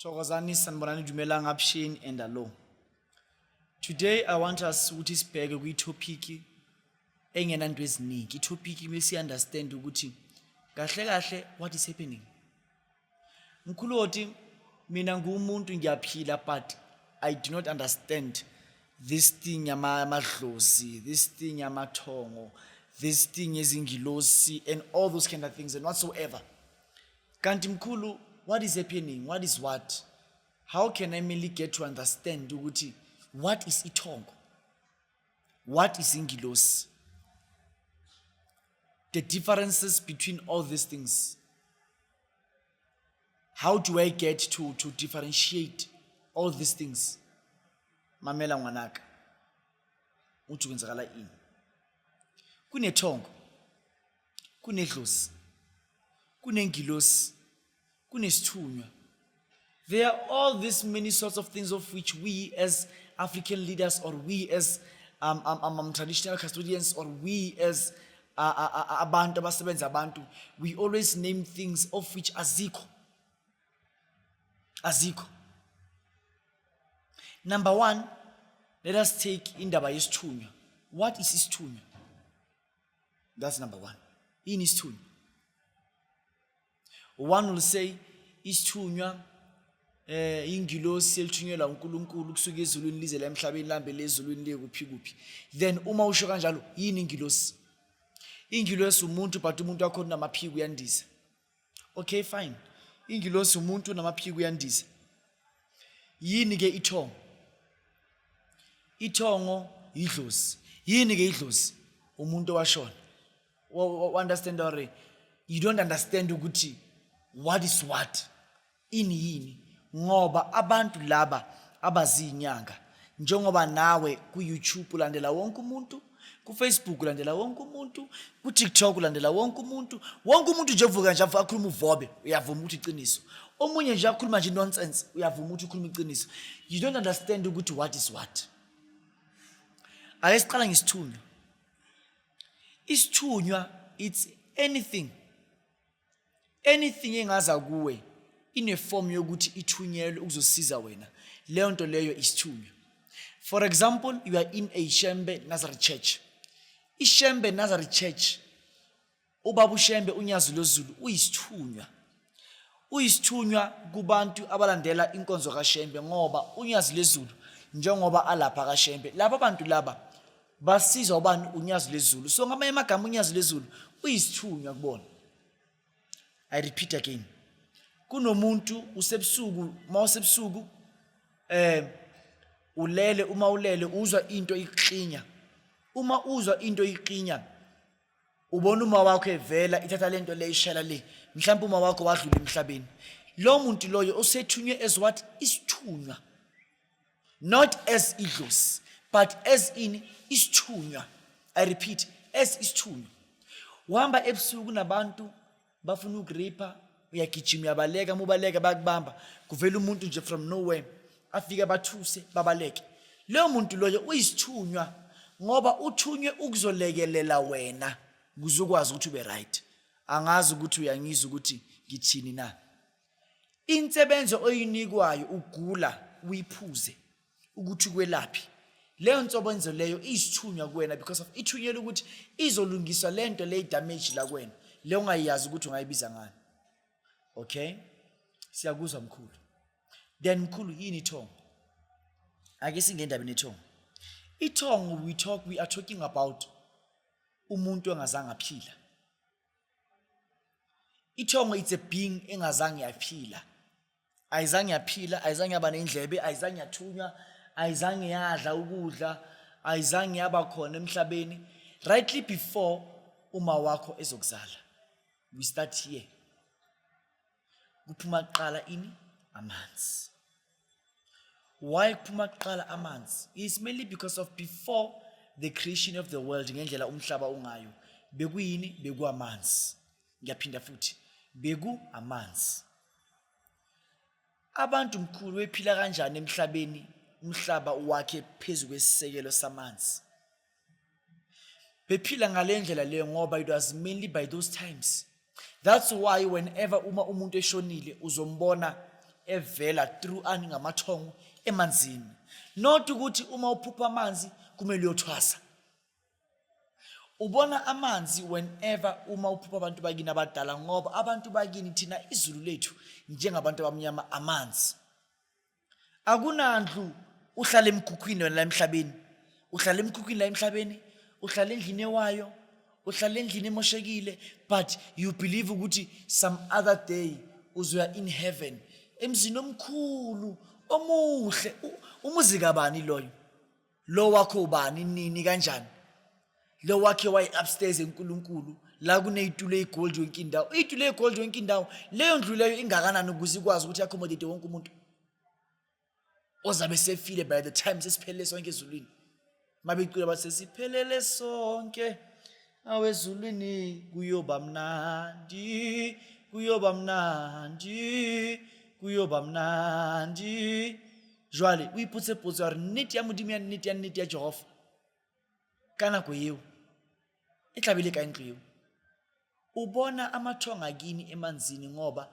Thokozani sanibonani Dumelang Abshini and Alo. Today I want us ukuthi sibheke kwi topic engena into eziningi. I topic mase understand ukuthi kahle kahle what is happening. Mkhuloti mina ngumuntu ngiyaphila but I do not understand this thing amadlozi this thing amathongo this thing izingilosi and all those kind of things and whatsoever kanti mkhulu what is happening what is what how can i merely get to understand ukuthi what is ithongo what is ingilosi the differences between all these things how do i get to, to differentiate all these things mamela ngwanaka uthi kwenzakala ini kunethongo kunedlozi kunengilosi kunesithunywa there are all these many sorts of things of which we as african leaders or we as um, um, um, um, traditional custodians or we as uh, uh, uh, uh abantu abasebenza abantu we always name things of which azikho azikho number one let us take indaba yesithunywa what is isithunywa that's number one yini isithunywa one will say isithunywa eh ingilosi elithunyelwa uNkulunkulu kusuka ezulwini lize la emhlabeni lambe lezulwini liye kuphi kuphi then uma usho kanjalo yini ingilosi ingilosi umuntu but umuntu wakho unamaphiko uyandiza okay fine ingilosi umuntu unamaphiko uyandiza yini ke ithongo ithongo yidlozi yini ke idlozi umuntu owashona understand or you don't understand ukuthi what is what ini yini ngoba abantu laba abaziyinyanga njengoba nawe ku-youtube ulandela wonke umuntu kufacebook ulandela wonke umuntu kutiktok ulandela wonke umuntu wonke umuntu nje uvuka nje akhuluma uvobe uyavuma ukuthi iqiniso omunye nje akhuluma nje nonsense uyavuma ukuthi ukhuluma iqiniso you don't understand ukuthi what is what ake siqala ngesithunywa isithunywa it's anything anything engaza kuwe ineform yokuthi ithunyelwe ukuzosiza wena leyo nto leyo isithunywa for example you are in a shembe nazareth church ishembe nazareth church ubaba ushembe unyazi lozulu uyisithunywa Uyisithunywa kubantu abalandela inkonzo kaShembe ngoba uNyazi Lezulu njengoba alapha kaShembe laba bantu laba basizwa ubani uNyazi Lezulu so ngamanye amagama uNyazi Lezulu uyisithunywa kubona I repeat again kunomuntu usebusuku mawusebusuku eh ulele uma ulele uzwa into ikuklinya uma uzwa into ikuklinya ubona uma wakho evela ithatha lento le ishela le mhlawumbe uma wakho wadlula emhlabeni lo muntu loyo usethunywe as what isithunywa not as idlozi but as in isithunywa i repeat as isithunywa uhamba ebusuku nabantu bafuna ukuripa uyagijima uyabaleka uma ubaleka bayakubamba kuvela umuntu nje from nowhere afike bathuse babaleke leyo muntu loyo uyisithunywa ngoba uthunywe ukuzolekelela wena ukuze ukwazi ukuthi ube right angazi ukuthi uyangizwa ukuthi ngithini na insebenzo oyinikwayo ugula uyiphuze ukuthi kwelaphi leyo nsobo enzo leyo isithunywa kuwena because of ithunyelwe ukuthi izolungiswa le nto le damage la kuwena le ungayazi ukuthi ungayibiza ngani okay siyakuzwa mkhulu then mkhulu yini ithongo ake singendabeni ethongo ithongo we talk we are talking about umuntu engazange aphila ithongo it's a being engazange yaphila ayizange yaphila ayizange yaba nendlebe ayizange yathunywa ayizange yadla ukudla ayizange yaba khona emhlabeni rightly before uma wakho ezokuzala we start here kuphuma kuqala ini amanzi why kuphuma kuqala amanzi is mainly because of before the creation of the world ngendlela umhlaba ungayo bekuyini bekuwamanzi ngiyaphinda futhi beku amanzi Abantu mkhulu bephila kanjani emhlabeni umhlaba wakhe phezu kwesisekelo samanzi? Bephila ngale ndlela leyo ngoba it was mainly by those times. That's why whenever uma umuntu eshonile uzombona evela through ani ngamathongo emanzini. Not ukuthi uma uphupha amanzi kumele uyothwasa. ubona amanzi whenever uma uphupha abantu bakini abadala ngoba abantu bakini thina izulu lethu njengabantu abamnyama amanzi akunandlu uhlala emkhukhwini wena la emhlabeni uhlala emkhukhwini la emhlabeni uhlala endlini ewayo uhlala endlini emoshekile but you believe ukuthi some other day uzoya in heaven emzini omkhulu omuhle umuzi kabani loyo lo wakho ubani nini kanjani lo wakhe waye upstairs enkulunkulu la kuneyitulo eyigold yonke indawo iyitulo eyigold yonke indawo leyo ndlu leyo ingakanani ukuze ikwazi ukuthi accommodate wonke umuntu ozabe sefile by the time sesiphelele sonke ezulwini mabecula bathi sesiphelele sonke awezulwini kuyoba mnandi kuyoba mnandi kuyoba mnandi jwale o ipotse potso ya gore nnete ya modimo ya nnete ya nnete ya jehova ka nako eo e tlabile ka ntlo eo ubona amathonga kini emanzini ngoba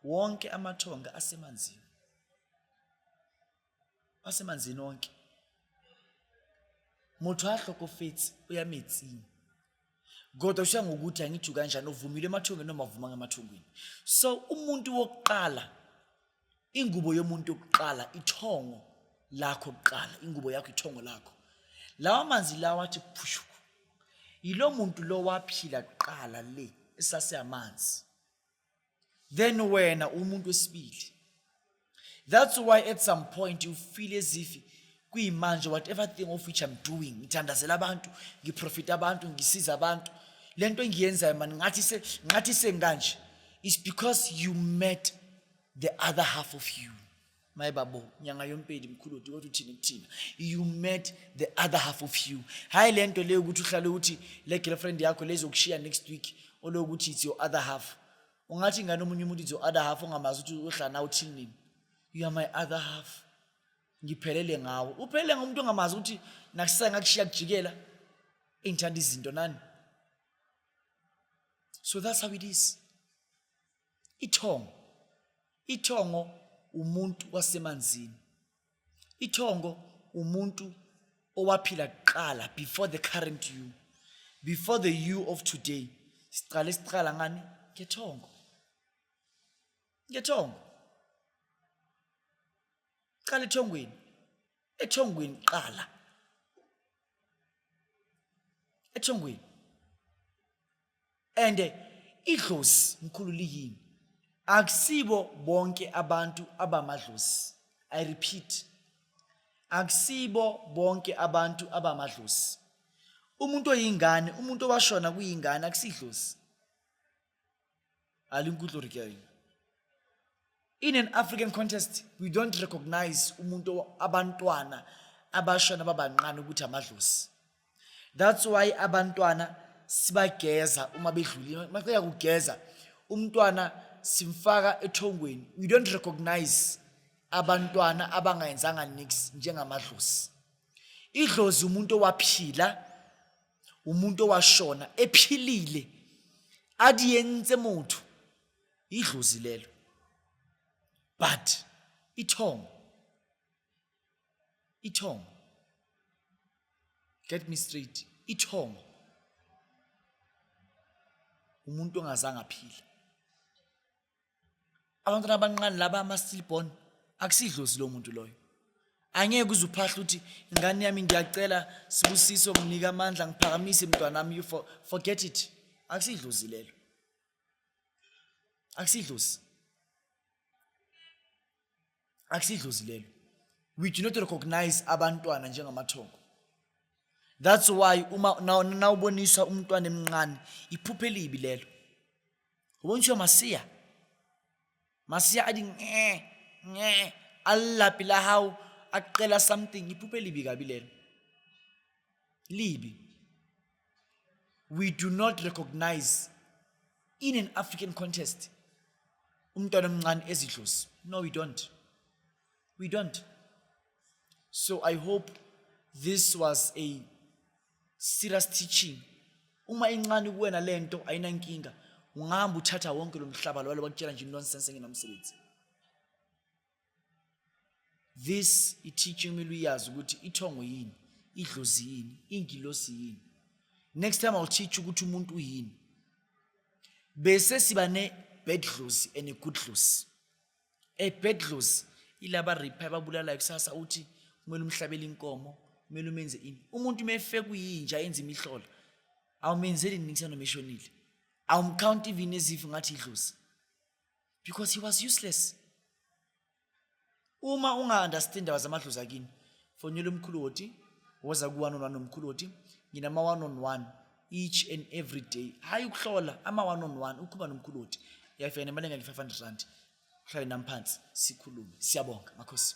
wonke amathonga asemanzini wasemanzini onke motho a hlokofetse o ya metsing kodwa ushiya ngokuthi angiju kanjani uvumile emathungeni noma avumanga emathungeni so umuntu wokuqala ingubo yomuntu yokuqala ithongo lakho kuqala ingubo yakho ithongo lakho lawa manzi lawa athi phushu yilo muntu lo waphila kuqala le esaseyamanzi then wena umuntu wesibili that's why at some point you feel as if kuyimanje whatever thing of which i'm doing ngithandazela abantu ngiprofita abantu ngisiza abantu le nto engiyenzayo mani ngathi se ngathi sengikanje is because you met the other half of you my babu nyanga yompedi mkhulu uthi kodwa uthini kuthina you met the other half of you hayi le nto leyo ukuthi uhlale ukuthi le girlfriend yakho lezokushiya next week olokuthi it's your other half ungathi ingane omunye umuntu it's your other half ongamazi ukuthi uhlala nawe uthini nini you are my other half ngiphelele ngawe uphelele ngomuntu ongamazi ukuthi nakusisa ngakushiya kujikela engithanda izinto nani so that's how it is ithongo ithongo umuntu wasemanzini ithongo umuntu owaphila kuqala before the current you before the you of today siqale siqala ngani ngethongo ngethongo qala ethongweni ethongweni qala ethongweni and idlozi mkhulu liyini akusibo bonke abantu abamadlozi i repeat akusibo bonke abantu abamadlozi umuntu oyingane umuntu owashona kuyingane akusidlozi a le nkutlwe gore ke eng in an african contest we don't recognize umuntu abantwana abashona babancane ukuthi amadlozi that's why abantwana sibageza uma bedlulile maqeda kugeza umntwana simfaka ethongweni we don't recognize abantwana abangayenzanga nix njengamadlozi idlozi umuntu owaphila umuntu owashona ephilile adi yenze motho idlozi lelo but ithongo ithongo get me straight ithongo umuntu ongazange aphila abantwana abanqane laba ama-stillborn akusidlozi lo muntu loyo angeke uze uphahle ukuthi ingane yami ngiyacela sibusiso nginika amandla ngiphakamise mntwanami you for, forget it akusidlozi lelo akusidlozi akusidlozi lelo we do not recognize abantwana njengamathongo that's why uma nawuboniswa umntwana emncane iphuphe elibi lelo ubonisiwa masiya masiya athi nge nge alilaphi la hawu aqela something iphuphe elibi kabi lelo libi we do not recognize in an African contest umntwana omncane ezidlozi no we don't we don't so i hope this was a serious teaching uma incane kuwena lento ayinankinga ungahamba uthatha wonke lo mhlaba lwalo bakutshela nje nonsense ngenamsebenzi this i-teaching kumele uyazi ukuthi ithongo yini idlozi yini ingilosi yini next time i'll teach ukuthi umuntu uyini bese siba ne-bad dlozi and a-good dlozi a-bad dlozi ilaba ripha ababulalayo kusasa uthi kumele umhlabela inkomo kumele umenze ini umuntu uma efe kuyinja yenza imihlola awumenzeli nini kusanomeshonile awumkhawunti ivini ezifo ngathi idlozi because he was useless uma unga-understand ndaba zamadlozi akini fonela umkhulu woti woza ku-one on one nomkhulu woti nginama-one on one each and every day hhayi ukuhlola ama-one on one ukhuluma nomkhulu woti uyafika nemali engeke-five hundred rand uhlale nami phansi sikhulume siyabonga makhosi